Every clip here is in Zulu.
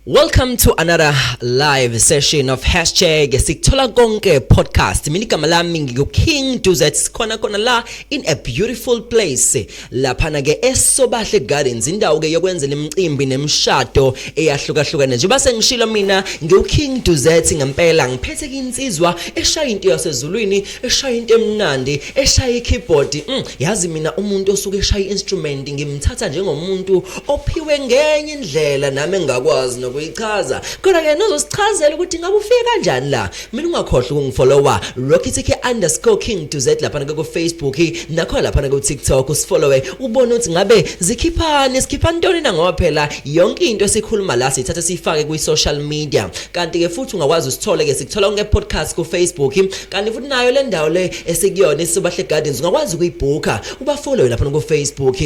Welcome to another live session of hashtag sikuthola konke podcast mina igama lami ngiku-king duzet sikhona khona la in a beautiful place laphana-ke esobahle gardens indawo-ke yokwenzela imicimbi nemishado eyahlukahlukene njengoba sengishilo mina ngiwu-king duzet ngempela ngiphethe-ke insizwa eshaya into yasezulwini eshaya into emnandi eshaya ikeyboard mm, yazi mina umuntu osuke eshaya instrument ngimthatha njengomuntu ophiwe ngenye indlela nami engakwazi nokuyichaza kodwa ke nozosichazela ukuthi ngabe ufike kanjani la mina ungakhohlwa ukungifollowa rockitk_king to z lapha ku Facebook nakho lapha ku TikTok usifollowe ubone ukuthi ngabe zikhiphani sikhipha ntoni na ngoba phela yonke into esikhuluma la sithatha sifake kwi social media kanti ke futhi ungakwazi usithole ke sikuthola nge podcast ku Facebook kanti futhi nayo le ndawo le esikuyona isobahle gardens ungakwazi ukuyibhukha ubafollowe lapha kufacebook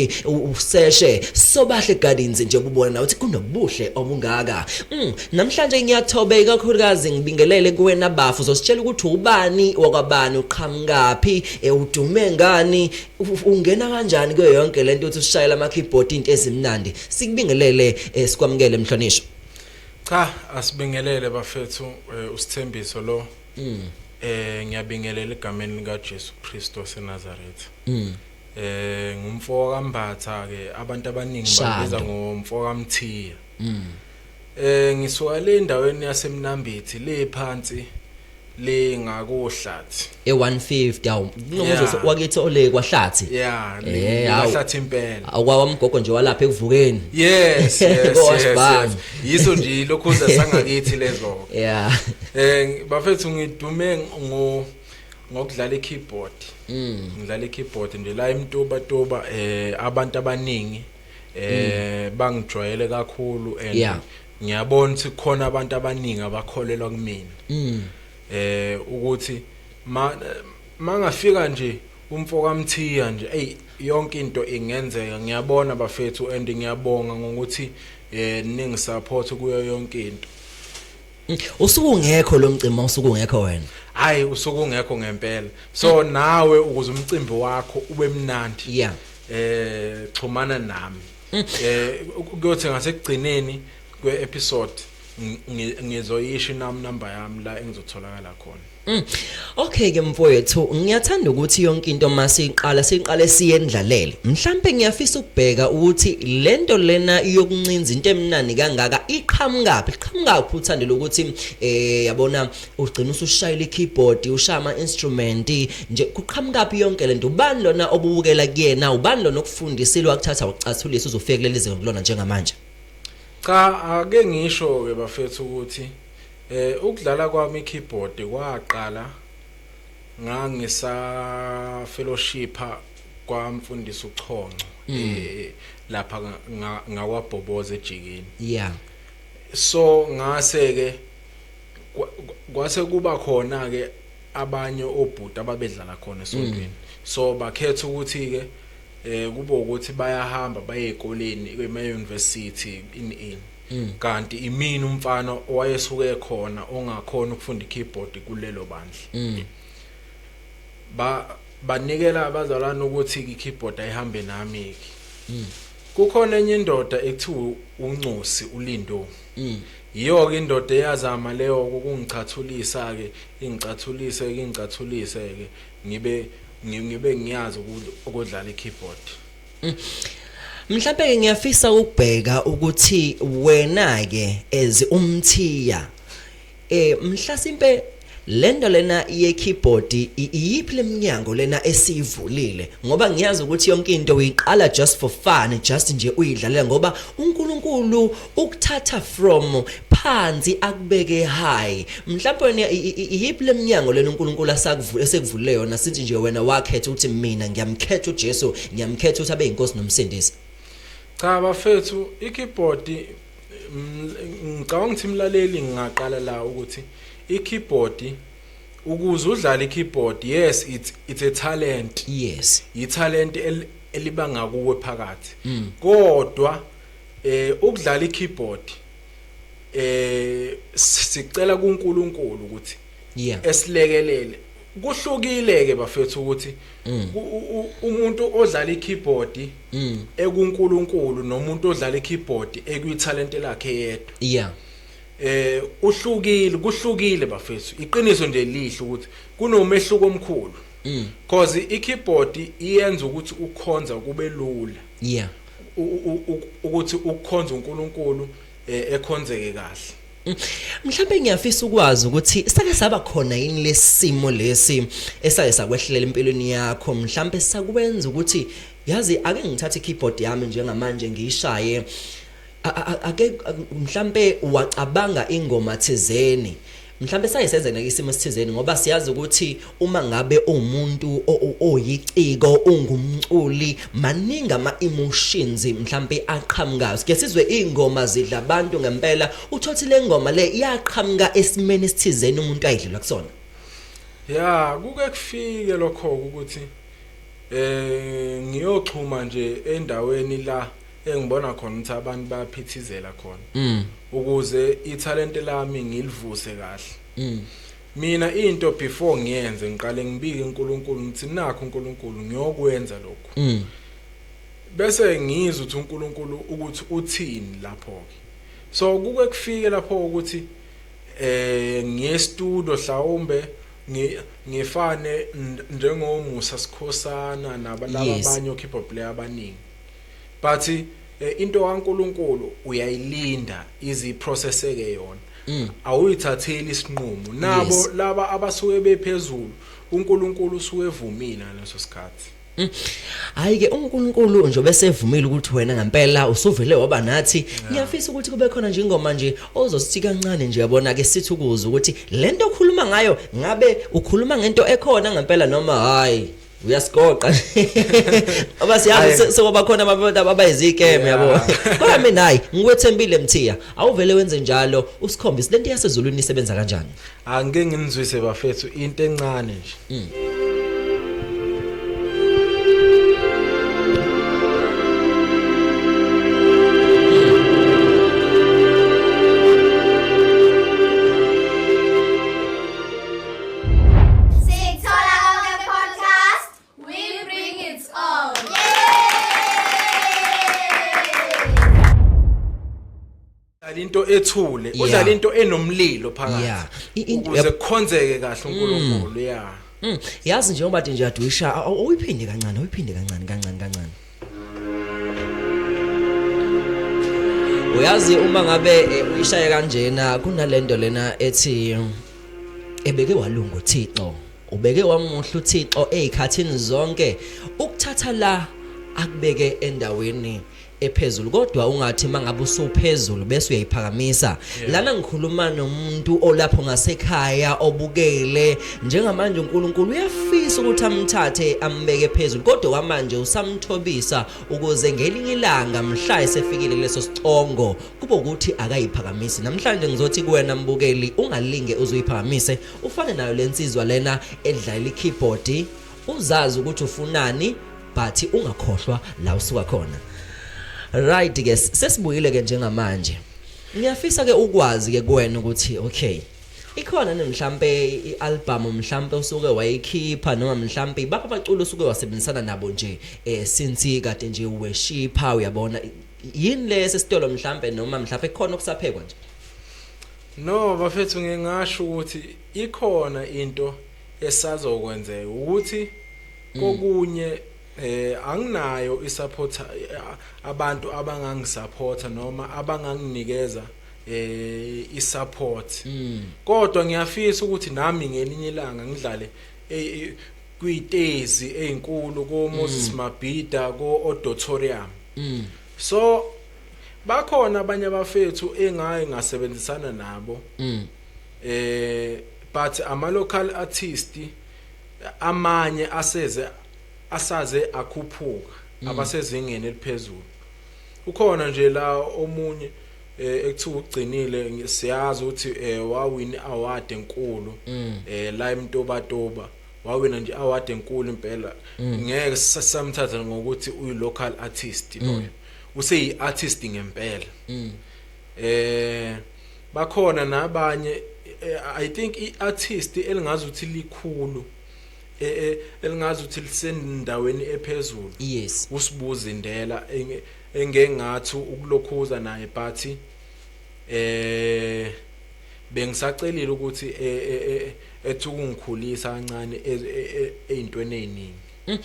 useshe sobahle gardens nje ububona nawe ukuthi kunobuhle obungaka mm, namhlanje ngiyathobe ikakhulukazi ngibingelele kuwena bafu uzositshela ukuthi ubani wakwabani uqhamukaphi e, udume ngani ungena kanjani kuyo yonke le nto ukuthi ushayela ama-keyboard into ezimnandi sikubingelele e, sikwamukele mhlonishwa cha asibingelele bafethu e, usithembiso lo Mm. Eh ngiyabingelela egameni lika Jesu Kristo seNazareth. Mm. Eh ngumfo kaMbatha ke abantu abaningi babiza ngomfo kaMthiya. Mm. Eh ngisuka le ndaweni yaseMnambithi le phansi le ngakohlathi e150 awu kunomuzi wakithi ole kwahlathi yeah eh, le kwahlathi impela awawamgogo nje walapha ekuvukeni yes yes yes yiso nje ilokhuza sangakithi lezo yeah eh bafethu ngidume ngo ngokudlala i-keyboard mm. ngidlala i-keyboard nje la emtuba tuba eh abantu abaningi eh mm. bangijwayele kakhulu and yeah. ngiyabona ukuthi khona abantu abaningi abakholelwa kumina mm. eh ukuthi ma Mangafika nje umfo kaMthiya nje eyi yonke into ingenzeka ngiyabona bafethu and ngiyabonga ngokuthi eh ningi support kuyo yonke into usuku ngekho lo mcimbi usuku ngekho wena hayi usuku ngekho ngempela so nawe ukuze umcimbi wakho ube mnandi yeah eh xhumana nami mm. eh kuyothi ngasekugcineni kwe episode ngizoyisho inami number yami la engizotholakala khona Mm. Okay ke mfowethu ngiyathanda ukuthi yonke into masiqala siqale siyendlalele mhlambe ngiyafisa ukubheka ukuthi lento lena yokuncinza into emnani kangaka iqhamukaphi iqhamukaphi uthandile ukuthi eh yabona ugcina usushayela ikeyboard ushaya ama instrument nje kuqhamukaphi yonke lento ubani lona obubukela kuyena ubani lona okufundisile wakuthatha ucathulisa uzofika kuleli zinga kulona njengamanje cha ake ngisho ke bafethu ukuthi Eh ukudlala kwami keyboard kwaqala ngangisa fellowshipha kwamfundisi uchonco mm. eh lapha ngawabhoboza ejikini yeah so ngase ke kwase kuba khona ke abanye obhuti ababedlala khona esontweni mm. so bakhetha ukuthi ke eh kube ukuthi bayahamba baye ezikoleni ema university in in Mm. kanti imini umfana owayesuke khona ongakhona ukufunda ikeyboard kulelo bandla mm. ba banikela abazalwane ukuthi ikeyboard ayihambe nami ke mm. kukhona enye indoda ekuthiwa uncosi ulindo mm. yiyo ke indoda eyazama leyo ukungichathulisa ke ingichathulise ke ingichathulise ke ngibe ngibe ngiyazi ukudlala ikeyboard Mm. Mhlawumbe ke ngiyafisa ukubheka ukuthi wena ke as umthiya eh mhlasimpe lento lena ye keyboard iyiphi leminyango lena esivulile ngoba ngiyazi ukuthi yonke into uyiqala just for fun just nje uyidlalela ngoba uNkulunkulu ukuthatha from phansi akubeke high mhlawumbe iyiphi lemnyango lena uNkulunkulu asakuvule esekuvulile yona since nje wena wakhetha ukuthi mina ngiyamkhetha uJesu ngiyamkhetha ukuthi abe inkosi nomsindisi cha bafethu ikeyboard mm, ngicabanga ukuthi imlaleli ngingaqala la ukuthi ikeyboard ukuze udlale ikeyboard yes it's it's a talent yes i talent elibanga kuwe phakathi mm. kodwa mm. Eh ukudlala ikeyboard eh sicela kuNkulunkulu ukuthi yeah esilekelele kuhlukile ke bafethu ukuthi mm. umuntu odlala ikeyboard mm. ekuNkulunkulu nomuntu odlala ikeyboard ekuyithalent lakhe yedwa yeah eh uhlukile kuhlukile bafethu iqiniso nje lihle ukuthi kunomehluko omkhulu mm. cause ikeyboard iyenza ukuthi ukhonza kube lula yeah ukuthi ukukhonza uNkulunkulu eh, ekhonzeke kahle mm. mhlawumbe ngiyafisa ukwazi ukuthi sake saba khona yini lesimo lesi esake sakwehlelela empilweni yakho mhlawumbe sakwenza ukuthi yazi ake ngithathe keyboard yami njengamanje ngiyishaye ake mhlambe wacabanga ingoma thizeni mhlawumbe saye senzeka isimo esithizeni ngoba siyazi ukuthi uma ngabe umuntu oyiciko ungumculi maningi ama emotions mhlawumbe aqhamukayo sike sizwe ingoma zidla abantu ngempela uthothi lengoma le iyaqhamuka esimeni esithizeni umuntu ayidlula kusona ya kuke kufike lokho ukuthi eh ngiyoxhuma nje endaweni la engibona khona ukuthi abantu bayaphithizela khona mm. ukuze ithalente lami ngilivuse kahle mm. mina into before ngiyenze ngiqale ngibike uNkulunkulu ngithi nakho uNkulunkulu ngiyokwenza lokho mm. bese ngizwe ukuthi uNkulunkulu ukuthi uthini lapho ke so kuke kufike lapho ukuthi eh ngiye studio hlawumbe ngifane njengomusa sikhosana nabalabanye yes. okhipha player abaningi But eh, into kaNkuluNkulu uyayilinda ize iprocesseke yona. Mm. Awuyithatheli isinqumo. Nabo yes. laba abasuke bephezulu uNkuluNkulu usuke evumile ngaleso sikhathi. Mm. Hayi ke uNkulunkulu nje obesevumile ukuthi wena ngempela usuvele waba nathi ngiyafisa ukuthi kube khona nje ingoma nje ozosithi kancane nje yabona ke sithi ukuza ukuthi lento okhuluma ngayo ngabe ukhuluma ngento ekhona ngempela noma hayi uyasigoqa aba siyazi sokuba khona abantu abayizikeme yabo kodwa mina hayi ngikwethembile mthiya awuvele wenze njalo usikhombise lento yasezulwini isebenza kanjani angike nginizwise bafethu into encane nje mm. udlala into ethule udlala into enomlilo phakathi ukuze kukhonzeke kahle mm. uNkulunkulu yeah mm. yazi njengoba nje adwisha awuyiphinde kancane awuyiphinde kancane kancane kancane uyazi uma ngabe eh, uyishaye kanjena kunalento lena ethi ebeke walunga uThixo ubeke wamuhle uThixo ezikhathini zonke ukuthatha la akubeke endaweni ephezulu kodwa ungathi mangabe usuphezulu bese uyayiphakamisa lana ngikhuluma nomuntu olapho ngasekhaya obukele Njengamanje uNkulunkulu uyafisa ukuthi amthathe ambeke phezulu kodwa kwamanje usamthobisa ukuze ngelinye ilanga mhla esefikile kuleso sicongo kube ukuthi akayiphakamisi namhlanje ngizothi kuwena mbukeli ungalinge uzoyiphakamise ufane nayo lensizwa lena edlalela ikeyboard uzazi ukuthi ufunani but ungakhohlwa la usuka khona right ke sesibuyile ke njengamanje ngiyafisa ke ukwazi ke kuwena ukuthi okay Ikhona ni mhlampe i-album mhlampe usuke wayikhipha noma mhlampe ibapha abaculi osuke wasebenzisana nabo nje eh since kade nje weshipha uyabona yini le sesitolo mhlampe noma mhlampe khona okusaphekwa nje No bafethu ngingasho ukuthi ikhona into esazokwenzeka ukuthi mm. kokunye eh anginayo isupport eh, abantu abangangisupporta noma abanganginikeza eh isupport mm. kodwa ngiyafisa ukuthi nami ngelinye ilanga ngidlale eh, eh, kwitezi ezinkulu ko Moses mm. Mabhida ko Auditorium mm. so bakhona abanye abafethu engayi ngasebenzisana nabo mm. eh but ama local artist amanye aseze asaze akhuphuka mm. abasezingeni eliphezulu ukhona nje la omunye eh ekuthiwa ugcinile siyazi ukuthi eh wawin award enkulu mm. eh la emtobatoba wawina nje award enkulu impela mm. ngeke samthatha ngokuthi uyi local artist mm. loyo useyi artist ngempela eh bakhona nabanye eh, i think i artist elingazi ukuthi likhulu eh, eh, elingazi ukuthi lisendaweni ephezulu yes usibuze indela engengathu ukulokhuza naye but eh bengisacelile ukuthi e, e, e, ethi ukungikhulisa kancane ezintweni eziningi mm.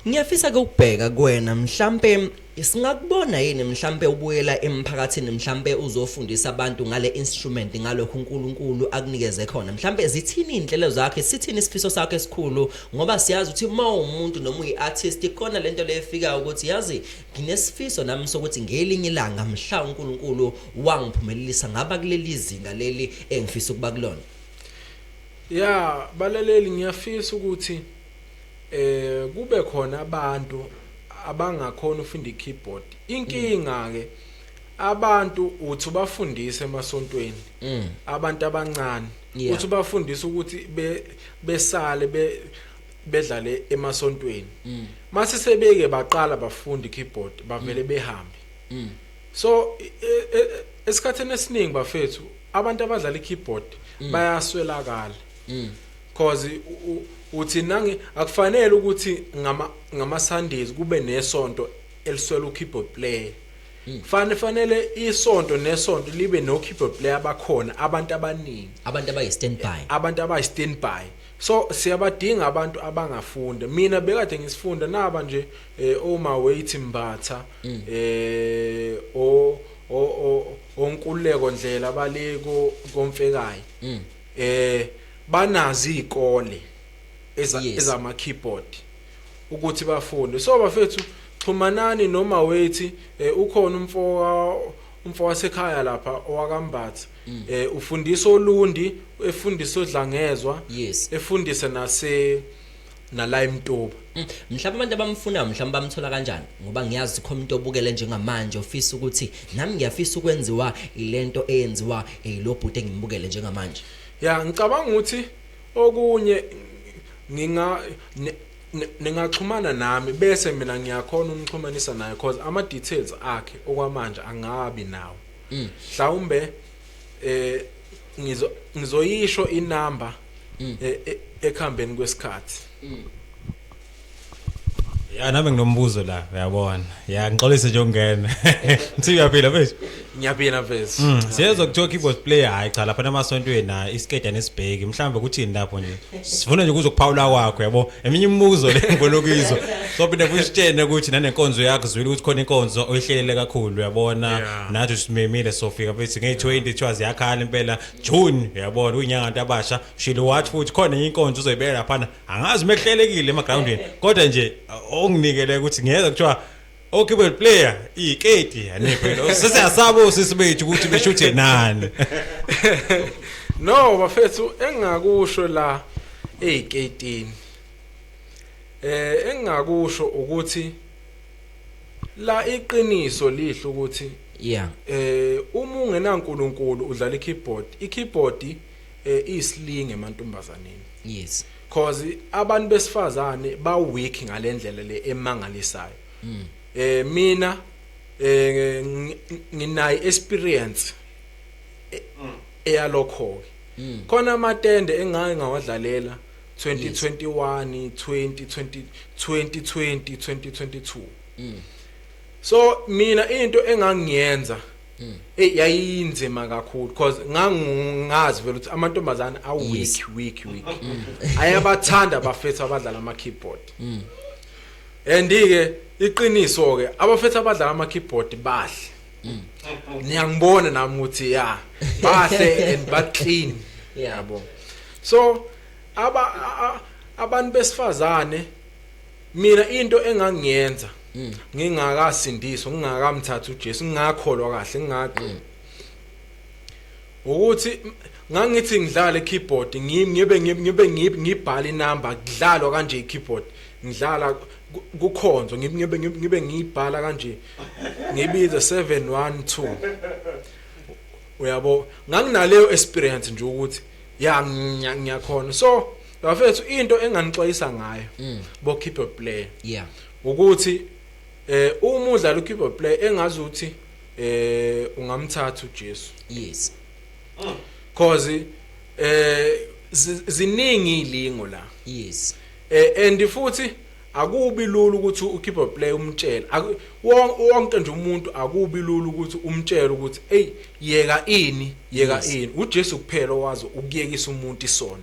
ngiyafisa ke ukubheka kuwena mhlambe singakubona yini mhlambe ubuyela emphakathini mhlambe uzofundisa abantu ngale instrument ngalokho uNkulunkulu akunikeze khona mhlambe zithini inhlelo zakhe sithini isifiso sakhe esikhulu ngoba siyazi ukuthi uma umuntu noma uyiartist ikona lento leyefika ukuthi yazi Nginesifiso nami sokuthi ngelinye ilanga mhla uNkulunkulu wangiphumelelisa ngaba kuleli zinga leli engifisa ukuba kulona. Ya balaleli ngiyafisa ukuthi eh kube khona abantu abangakhona ufunda i-keyboard. Inkinga ke abantu uthi ubafundise emasontweni mm. abantu abancane uthi ubafundisa ukuthi besale be bedlale emasontweni mm. mase sebeke baqala bafundi keyboard bavele mm. behambe mm. so e, e, e, esikhatheni esiningi bafethu abantu abadlala ikeyboard mm. bayaswelakala mm. cause uthi nangi akufanele ukuthi ngama ngama Sundays kube nesonto eliswela ukeyboard player Mm. Fane fanele isonto nesonto libe no keyboard player abakhona abantu abaningi abantu abayi standby abantu abayi standby So siyabadinga abantu abangafunda. Mina bekade ngisifunda naba nje eh, oma weight mbatha mm. eh o o onkuleko ndlela baleko komfekayo. Mm. Eh banazi izikole ezama keyboard ukuthi bafunde. So bafethu xhumanani noma weight eh, ukhona umfoka umfoka sekhaya lapha owakambatha mm. eh ufundisa olundi efundisa odlangezwa yes efundise nase nala imtoba mm. mhlawumbe abantu abamfunayo mhlawumbe bamthola kanjani ngoba ngiyazi khona umuntu obukele njengamanje ofisa ukuthi nami ngiyafisa ukwenziwa ilento eyenziwa elobhuti eh, engimbukele njengamanje ya ngicabanga ukuthi okunye nginga ningaxhumana nami bese mina ngiyakhona umxhumanisa naye because ama details akhe okwamanje angabi nawo Mm. Mhlawumbe eh ngizo ngizoyisho inamba mm. e, e, ekhambeni kwesikhathi. Mm. Ya nami nginombuzo la uyabona. Ya ngixolise nje ungena. Nthi uyaphila mfethu. Ngiyaphila mfethu. Mm, siyezwa kuthiwa keyboard player hayi cha lapha namasontweni na isikeda nesibheki mhlawumbe kuthini lapho nje. Sifuna nje kuzokuphawula kwakho yabo. eminye imibuzo le ngifuna ukuyizwa sophinde kusitshene ukuthi nanenkonzo yakho zwile ukuthi khona inkonzo oyihlelele kakhulu uyabona Yeah. nathi simemile sofika futhi nge-20 kuthiwa ziyakhala impela june uyabona uyinyanga nto abasha ushile wathi futhi khona enye inkonzo uzoyibeka laphana angazi uma kuhlelekile emagrawundini kodwa nje uh, onginikele ukuthi ngiyeza kuthiwa Okibel player iketi yani phela sise asabo sisi bethu ukuthi beshuthe nani No bafethu engakusho la eyketini eh engakusho ukuthi la iqiniso lihlo ukuthi yeah eh uma ungenankulunkulu udlala ikeyboard ikeyboard eh islinge emantombazaneni yes cause abantu besifazane ba weak ngalendlela le emangalisayo mm. eh mina eh nginayi experience e, mm. eyalokho mm. khona amatende engake ngawadlalela 2021 2020 2020 2022 so mina into engangiyenza Mm. Eh yayinzima kakhulu because ngangingazi vele ukuthi amantombazane a week week week. Mm. Ayabathanda abafethu abadlala ama keyboard. Mm. And ke iqiniso ke abafethu abadlala ama keyboard bahle. Mm. Niyangibona nami ukuthi ya bahle and ba clean. Yabo. So aba abantu besifazane mina into engangiyenza mm. ngingakasindiswa ngingakamthatha uJesu ngingakholwa kahle ngingaqi mm. ukuthi ngangithi ngidlala keyboard ngibe ngibe ngibhala inamba kudlalwa kanje ikeyboard ngidlala kukhonzo ngibe ngibe ngibhala kanje ngibize 712 uyabo nganginaleyo experience nje ukuthi ya ngiyakhona so Bafethu into enganixwayisa ngayo mm. bo keyboard player. Yeah. Ukuthi eh uma udlala ukeyboard player engazi ukuthi eh ungamthatha uJesu. Yes. Mm. Cause eh ziningi ilingo la. Yes. Eh and futhi akubi lula ukuthi ukeyboard player umtshele wonke nje umuntu akubi lula ukuthi umtshele ukuthi hey yeka ini yeka ini uJesu kuphela owazi ukuyekisa umuntu isono